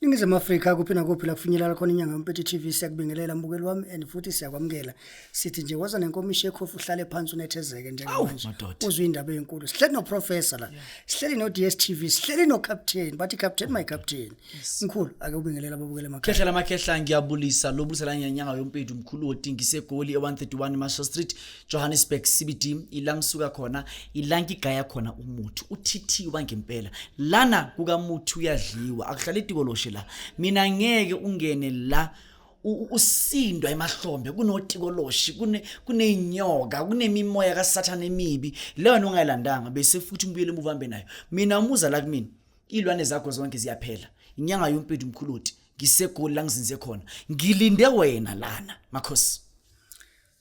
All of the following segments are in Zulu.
Ningizimu Afrika kuphi nakuphi la kufinyelela khona inyanga yompethu TV siyakubingelela mbukeli wami and futhi siyakwamukela sithi nje waza nenkomishi ekhofu uhlale phansi unethezeke njengamanje madoda. uzwe indaba enkulu sihleli no professor la sihleli no DStv sihleli no captain bathi captain my captain mkhulu ake ubingelela babukele makhehla khehla lamakhehla ngiyabulisa lobulisa la ngenyanga yompethu mkhulu wodingisa egoli e-131 marshall street Johannesburg CBD ila ngisuka khona ila ngigaya khona umuthi uthithiwa ngempela lana kukamuthi uyadliwa akuhlala itikoloshe la mina ngeke ungene la usindwa emahlombe kunotikoloshi kune kunenyoka kunemimoya kasathana emibi leyo nto ungayilandanga bese futhi ngibuyele emuva hambe nayo mina umuza la kumina iy'lwane zakho zonke ziyaphela inyanga yompethu mkhuluti ngisegoli la ngizinze khona ngilinde wena lana makhosi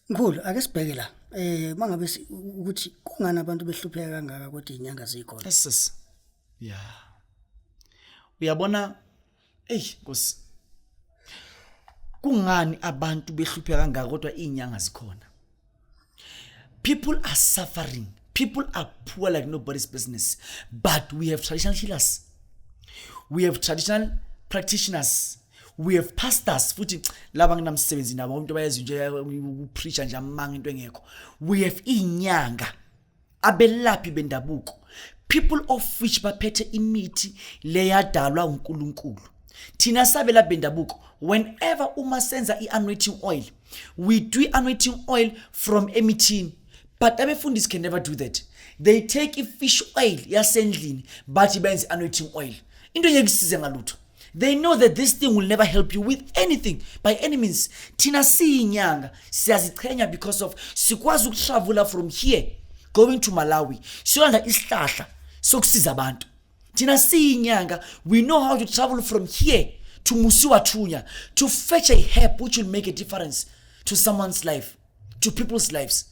Mkhulu ake sibheke la. Eh mangabe ukuthi kungani abantu behlupheka kangaka kodwa inyanga zikhona. Yeses. Yeah. Uyabona ey Nkosi. Kungani abantu behlupheka kangaka kodwa inyanga zikhona? People are suffering. People are poor like nobody's business. But we have traditional healers. We have traditional practitioners. we have pastors futhi laba nginamsebenzi nabo umuntu bayazi nje ukupreacha nje amanga into engekho we have inyanga abelaphi bendabuko people of which baphethe imithi leyadalwa uNkulunkulu thina sabela bendabuko whenever uma senza i-anointing oil we do i-anointing oil from emithini but abefundisi can never do that they take i-fish oil yasendlini bathi benze i-anointing oil into engeke isize ngalutho they know that this thing will never help you with anything by any means thina siyinyanga siyazichenya because of sikwazi ukuhlavula from here going to malawi siyolanda isihlahla sokusiza abantu thina siyinyanga we know how to travel from here to musiwathunya to fetch a help which will make a difference to someone's life to people's lives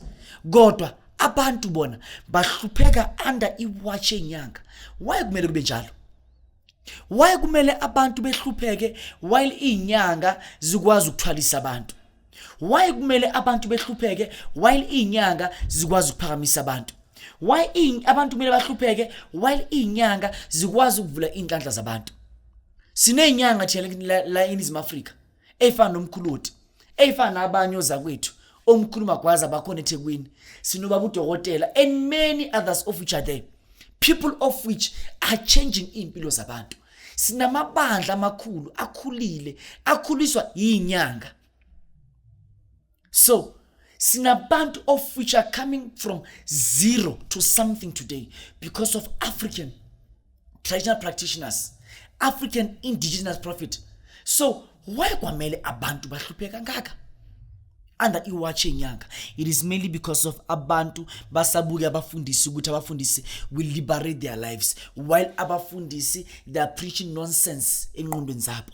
kodwa abantu bona bahlupheka under iwatch enyanga why kumele kube njalo why kumele abantu behlupheke while inyanga zikwazi ukuthwalisa abantu why kumele abantu behlupheke while inyanga zikwazi ukuphakamisa abantu why abantu kumele bahlupheke while inyanga zikwazi ukuvula inhlanhla zabantu sinenyanga thina la eNingizimu Afrika eyifana nomkhuloti eyifana nabanye ozakwethu omkhulu magwaza bakhona ethekwini sinobaba udokotela and many others of which are there people of which are changing iy'mpilo zabantu sinamabandla amakhulu akhulile akhuliswa yinyanga so sinabantu of which are coming from zero to something today because of african traditional practitioners african indigenous prophet so why kwamele abantu bahluphe kangaka under iwatch yenyanga it is mainly because of abantu basabuke abafundisi ukuthi abafundisi will liberate their lives while abafundisi they are preaching nonsense enqondweni zabo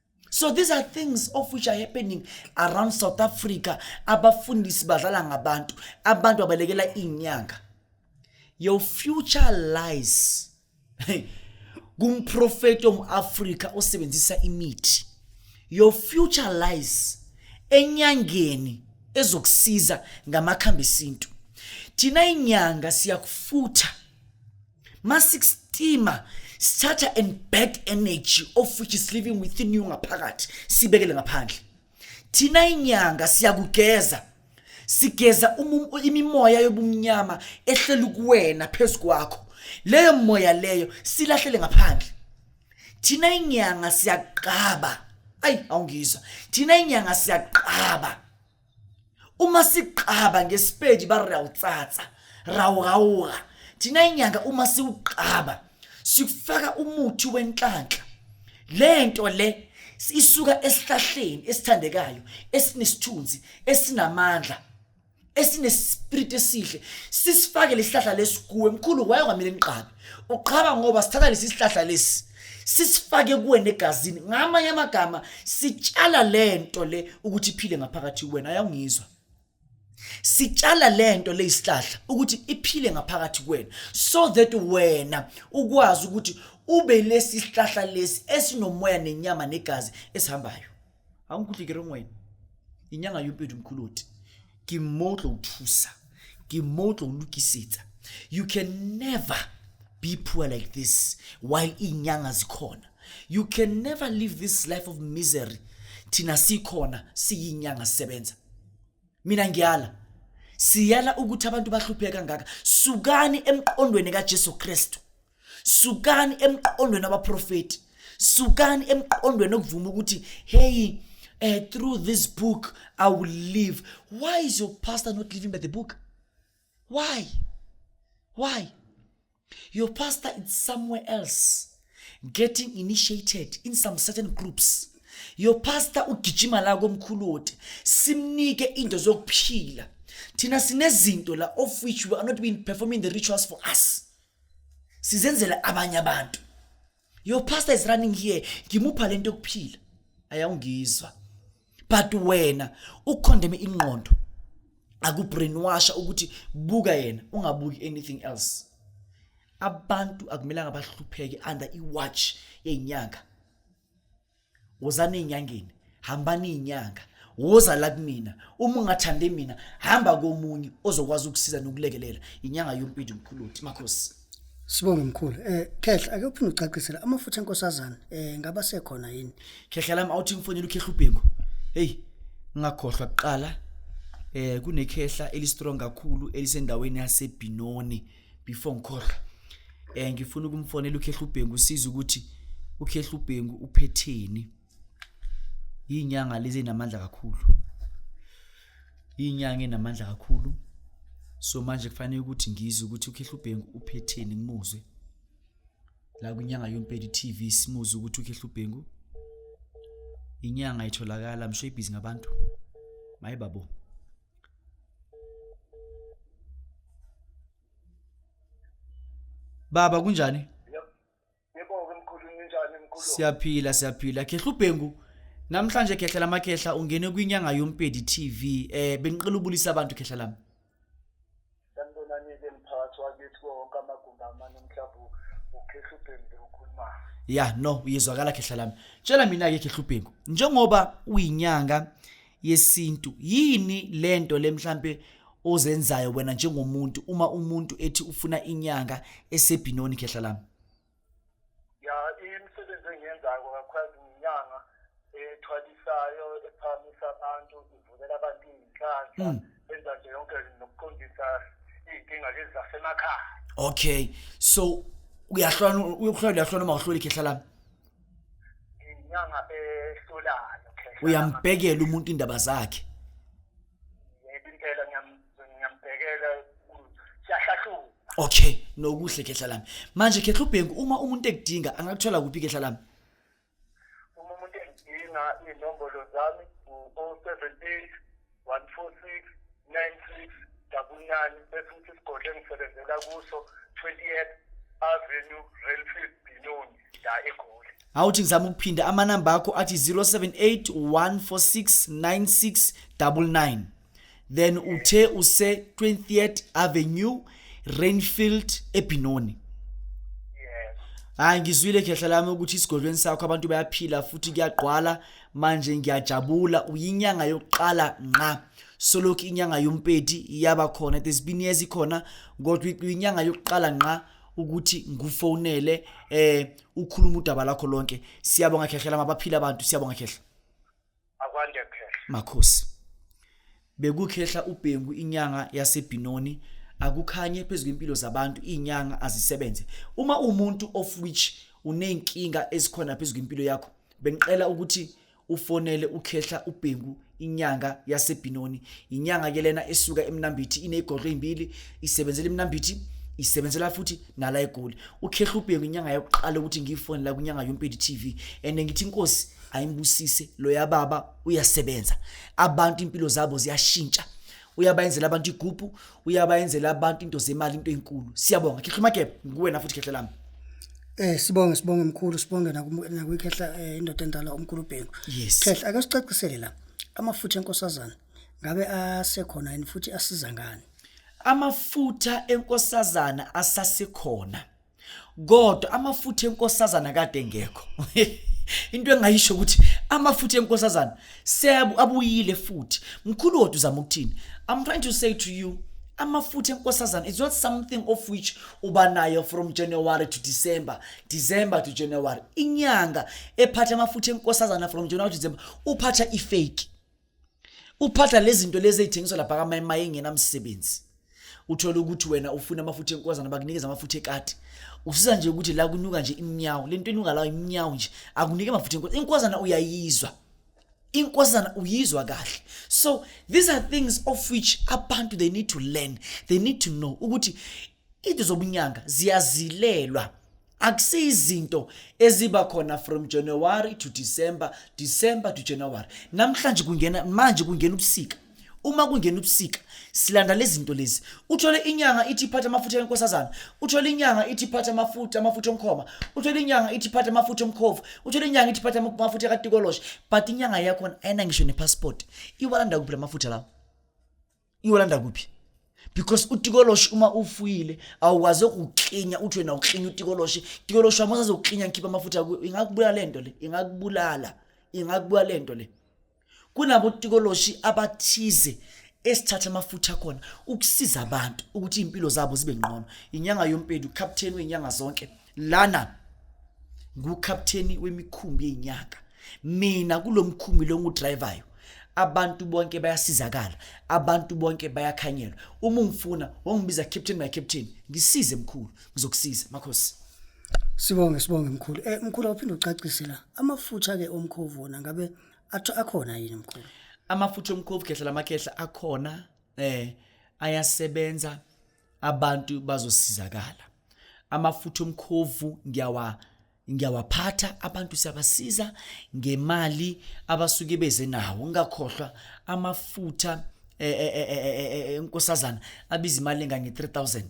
so these are things of which are happening around south africa abafundisi badlala ngabantu abantu abalekela iy'nyanga your future lies kumprofeti om-afrika osebenzisa imithi your future lies enyangeni ezokusiza ngamakhambi esintu thina inyanga siyakufutha masikusteamer sithatha and bad energy of which is living within you ngaphakathi sibekele ngaphandle thina inyanga siyakugeza sigeza imimoya yobumnyama ehleli kuwena phezu kwakho leyo moya leyo silahlele ngaphandle thina inyanga siyaqaba ayi awungizwa thina inyanga siyaqaba uma siqhaba ngesipedi ba re o tsatsa ra o gaoga thina inyanga uma siwuqhaba sikufaka umuthi wenhlanhla le nto le isuka esihlahleni esithandekayo esinesithunzi esinamandla esinespiriti esihle sisifake lesihlahla lesikuwe mkhulu wayonga mina ngiqhabe uqhaba ngoba sithatha lesi sihlahla lesi sisifake kuwena egazini ngamanye amagama sitshala lento le ukuthi iphile ngaphakathi kuwena ayawungizwa sitshala lento leyisihlahla ukuthi iphile ngaphakathi kuwena so that wena ukwazi ukuthi ube lesi sihlahla lesi esinomoya nenyama negazi esihambayo ga o nkutlwe ke reng wena inyanga yo pedi mokgoloti ke mo tlo o thusa ke mo tlo o lokisetsa you can never be poor like this while inyanga zikhona you can never live this life of misery thina sikhona siyinyanga sisebenza mina ngiyala siyala ukuthi abantu bahluphe kangaka sukani emqondweni kaJesu Kristu sukani emqondweni abaprofeti sukani emqondweni okuvuma ukuthi heyi uh, through this book i will live why is your pastor not living by the book why why your pastor is somewhere else getting initiated in some certain groups your pastor ugijima la komkhulu wote simnike into zokuphila thina sinezinto la of which we are not being performing the rituals for us sizenzela abanye abantu your pastor is running here ngimupha lento yokuphila ayawungizwa but wena ukukondeme ingqondo akubrainwasha ukuthi buka yena ungabuki anything else abantu akumelanga bahlupheke under iwatch yenyanga wozani ey'nyangeni hambani iy'nyanga woza la kumina uma ungathande mina hamba komunye ozokwazi ukusiza nokulekelela inyanga yompidi mkhuluthi makhosi Sibonge mkhulu. Eh khehla ake uphinde ucacisele amafutha enkosazana eh ngaba sekhona yini? Khehla lami awuthi ngifonela ukhehla ubhengu. Hey ngakhohlwa kuqala eh kunekhehla eli strong kakhulu elisendaweni yaseBinoni. Eh before ngikhohlwe um ngifuna ukumfonela ukhehla ubhengu usiza ukuthi ukhehla ubhengu uphetheni iy'nyanga lezi enamandla kakhulu iy'nyanga enamandla kakhulu so manje kufanele ukuthi ngizwe ukuthi ukhehla ubhengu uphetheni ngimuzwe la kwinyanga yompedi tv simuzwe ukuthi ukhehla ubhengu inyanga itholakala msho ibhizi ngabantu maye babo Baba kunjani? Ngibonge mkhulu ninjani mkhulu? Siyaphila siyaphila. Khehla ubhengu. Namhlanje khehla lamakhehla ungene kwinyanga yompedi TV. Eh bengiqela ubulisa abantu khehla lami. Sanibonani-ke mphakathi wakithi kuwo wonke amagumbi amane mhlawumbe ukhehlubhengu bewukhulumayo ya no uyezwakala khehla lami tshela mina-ke khehlubhengu njengoba uyinyanga yesintu yini le nto le mhlampe ozenzayo wena njengomuntu uma umuntu ethi ufuna inyanga esebhinoni khehla lami ya imisebenzi engiyenzayo kakhulukazi nginyanga ethwalisayo ephamisa abantu ivulela abantu iy'nhlanhla mm. enza nje yonke nokuqondisa iy'nkinga lezi zasemakhaya okay so uyahlona uyokuhlola uyahlona uma uhloli khehla lami inyanga ehlolayo uyambhekela umuntu indaba zakhe yebo impela ngiyambhekela ngiyambhekela siyahlahluka okay nokuhle khehla lami manje khehla ubhengu uma umuntu ekudinga angakuthola kuphi khehla lami uma umuntu ekudinga inombolo zami u-078 146 96 double nine bese ukuthi isigodlo engisebenzela kuso 28 avenue railfield binoni ya egoli awuthi ngizama ukuphinda amanamba akho athi 078 146 9699 then uthe use 20th avenue rainfield ebhinoni hayi ngizwile khehla lami ukuthi isigodlweni sakho abantu bayaphila futhi kuyagqwala manje ngiyajabula uyinyanga yokuqala nqa solokhu inyanga yompeti iyaba khona there's been years ikhona kodwa uyinyanga yokuqala nqa ukuthi ngufonele eh ukhuluma udaba lakho lonke siyabonga khehlela mabaphila abantu siyabonga khehla akwande khehla makhosi bekukhehla ubhengu inyanga yasebhinoni akukhanye phezu kwempilo zabantu inyanga azisebenze uma umuntu of which unenkinga ezikhona phezu kwempilo yakho bengicela ukuthi ufonele ukhehla ubhengu inyanga yasebhinoni inyanga ke lena esuka emnambithi ineyigolo ezimbili isebenzela emnambithi isebenzela futhi nala egoli ukhehla ubhengu inyanga yokuqala ukuthi ngiyifone la kwinyanga yompedi TV and ngithi inkosi ayimbusise lo yababa uyasebenza abantu impilo zabo ziyashintsha uyabayenzela abantu igubhu uyabayenzela abantu into zemali into enkulu siyabonga khehla magebe ngikuwena futhi khehla lami Eh sibonge sibonge mkhulu sibonge nakuyikhehla eh, indoda endala umkhulu Bhengu. Yes. Khehla ake sicacisele la amafutha enkosazana ngabe asekhona yini futhi asiza ngani? Amafutha enkosazana asasekhona. kodwa amafutha enkosazana kade engekho into engayisho ukuthi amafutha enkosazana seabuyile futhi mkhulu kodwa uzama ukuthini i'm trying to say to you amafutha enkosazana is not something of which uba nayo from january to december december to january inyanga ephatha amafutha enkosazana from january to december uphatha ifake uphatha lezinto lezi ezithengiswa lapha kamayemaye engenamsebenzi uthola ukuthi wena ufuna amafutha enkozana bakunikeza amafutha ekati usiza nje ukuthi la kunuka nje imnyawo lento enuka la imnyawo nje akunike amafutha enkozana inkozana uyayizwa inkozana uyizwa kahle so these are things of which abantu they need to learn they need to know ukuthi Into zobunyanga ziyazilelwa akusiyizinto eziba khona from January to December, December to January. Namhlanje kungena manje kungena ubusika. Uma kungena ubusika silanda lezi zinto lezi. Uthole inyanga ithi phatha amafutha enkosazana, uthole inyanga ithi phatha amafutha amafutha omkhoma, uthole inyanga ithi phatha amafutha omkhovu, uthole inyanga ithi phatha amafutha katikoloshe. But inyanga yakho ayina ngisho nepassport. Iwalanda kuphi lamafutha lawo? iyolanda kuphi because utikoloshi uma ufuyile awukwazi ukuklinya uthi wena uklinya utikoloshi tikoloshi wami usazoklinya ngikhipha amafutha kuyo ingakubulala le nto le ingakubulala ingakubulala le nto le kunabotikoloshi abathize esithatha amafutha akhona ukusiza abantu ukuthi iy'mpilo zabo zibe ngqono inyanga yompeli ucaptain wey'nyanga zonke lana ngukapteni wemikhumbi yenyaka mina kulomkhumbi lo ngudrivayo abantu bonke bayasizakala abantu bonke bayakhanyelwa uma ungifuna wongibiza captain my captain ngisize mkhulu ngizokusiza makhosi sibonge sibonge mkhulu eh mkhulu awuphinde ucacise la amafutha ke omkhovu wona ngabe athu akhona yini mkhulu amafutha omkhovu khehla lamakhehla akhona eh ayasebenza abantu bazosizakala amafutha omkhovu ngiyawa ngiyawaphatha abantu siyabasiza ngemali abasuke beze nawo ngingakhohlwa amafutha enkosazana eh, eh, eh, abiza imali engange-3000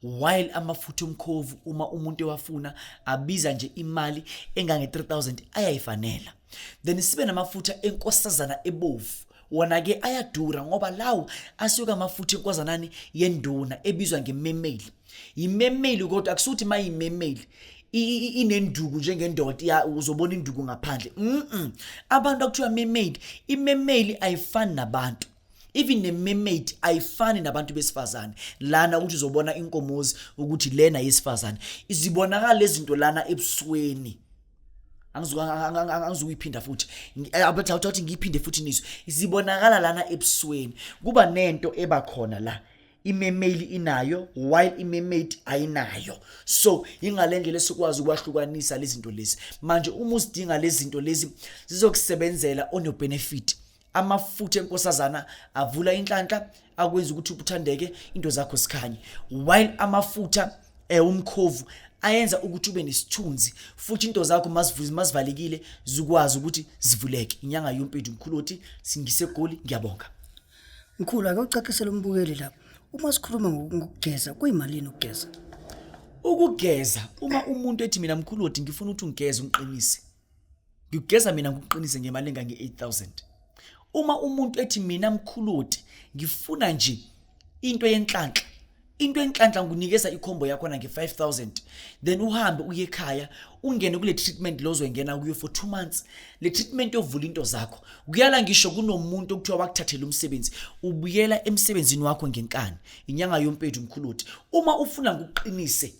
while amafutha omkhovu uma umuntu ewafuna abiza nje imali engange-3000 ayayifanela then sibe namafutha enkosazana ebovu wona-ke ayadura ngoba lawo asuke amafutha enkozanani yenduna ebizwa ngememeli yimemeli kodwa akusuthi uma yimemeli inenduku njengendoda uzobona induku ngaphandle mm abantu akuthiwa memeli imemeli ayifani nabantu even ne-mermaid ayifani nabantu besifazane lana ukuthi uzobona inkomozi ukuthi lena yesifazane izibonakala lezi zinto lana ebusweni angizukuyiphinda futhi eh, abethi awuthathi ngiyiphinde futhi nizwe zibonakala lana ebusweni kuba nento eba khona la imemeli inayo while imemade ayinayo so ingale ndlela esikwazi ukwahlukanisa lezi zinto lezi manje uma uzidinga lezi zinto lezi zizokusebenzela onobenefit amafutha enkosazana avula inhlanhla akwenza ukuthi ukuthandeke into zakho sikhanye while amafutha eh umkhovu ayenza ukuthi ube nesithunzi futhi into zakho mazivuze mazivalekile zikwazi ukuthi zivuleke inyanga yompethu mkhulu othi singise goli ngiyabonga mkhulu ake ucacisele umbukeli lapha uma sikhuluma ngokugeza kuyimalini ukugeza ukugeza uma umuntu ethi mina mkhulu othi ngifuna ukuthi ungigeze ungiqinise ngigeza mina ngikuqinise ngemali engange 8000 uma umuntu ethi mina mkhuludi ngifuna nje into yenhlanhla into enhlanhla ngunikeza ikhombo yakho na nge5000 then uhambe uye ekhaya ungene kule treatment lozwe ngena kuyo for 2 months le treatment yovula into zakho kuyala ngisho kunomuntu okuthiwa wakuthathela umsebenzi ubuyela emsebenzini wakho ngenkani inyanga yompethu mkhuludi uma ufuna ngokuqinise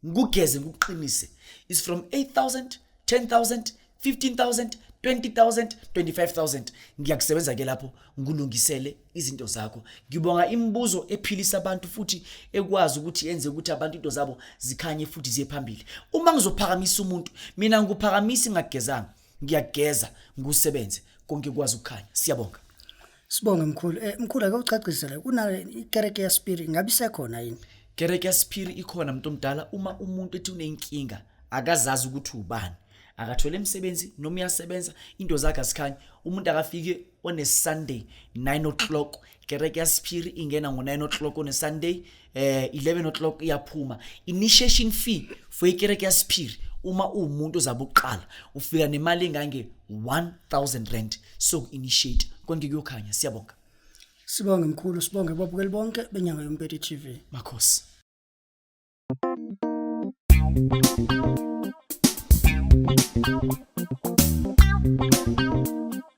ngikugeze ngikuqinise is from 8000 10000 15000 20000 25000 ngiyakusebenza ke lapho ngikulungisele izinto zakho ngibonga imibuzo ephilisa abantu futhi ekwazi ukuthi yenze ukuthi abantu into zabo zikhanye futhi ziye phambili uma ngizophakamisa umuntu mina ngikuphakamisi ngagezanga ngiyageza ngusebenze konke kwazi ukukhanya siyabonga Sibonge mkhulu. Eh mkhulu ake ucacisele kuna ikereke yaSpiri ngabe isekhona yini? Kereke yaSpiri ikhona umuntu omdala uma umuntu ethi unenkinga akazazi ukuthi ubani. Akathole imisebenzi noma uyasebenza into zakhe asikhanyi umuntu akafike on a Sunday 9 o'clock kereke yaSpiri ingena ngo 9 o'clock on a Sunday eh 11 o'clock iyaphuma initiation fee for ikereke yasiphiri uma uwumuntu ozabe uqala ufika nemali engange 1000 rand so initiate konke kuyokhanya siyabonga sibonge mkhulu sibonge babukeli bonke benyanga yompete TV makhosi Thank you.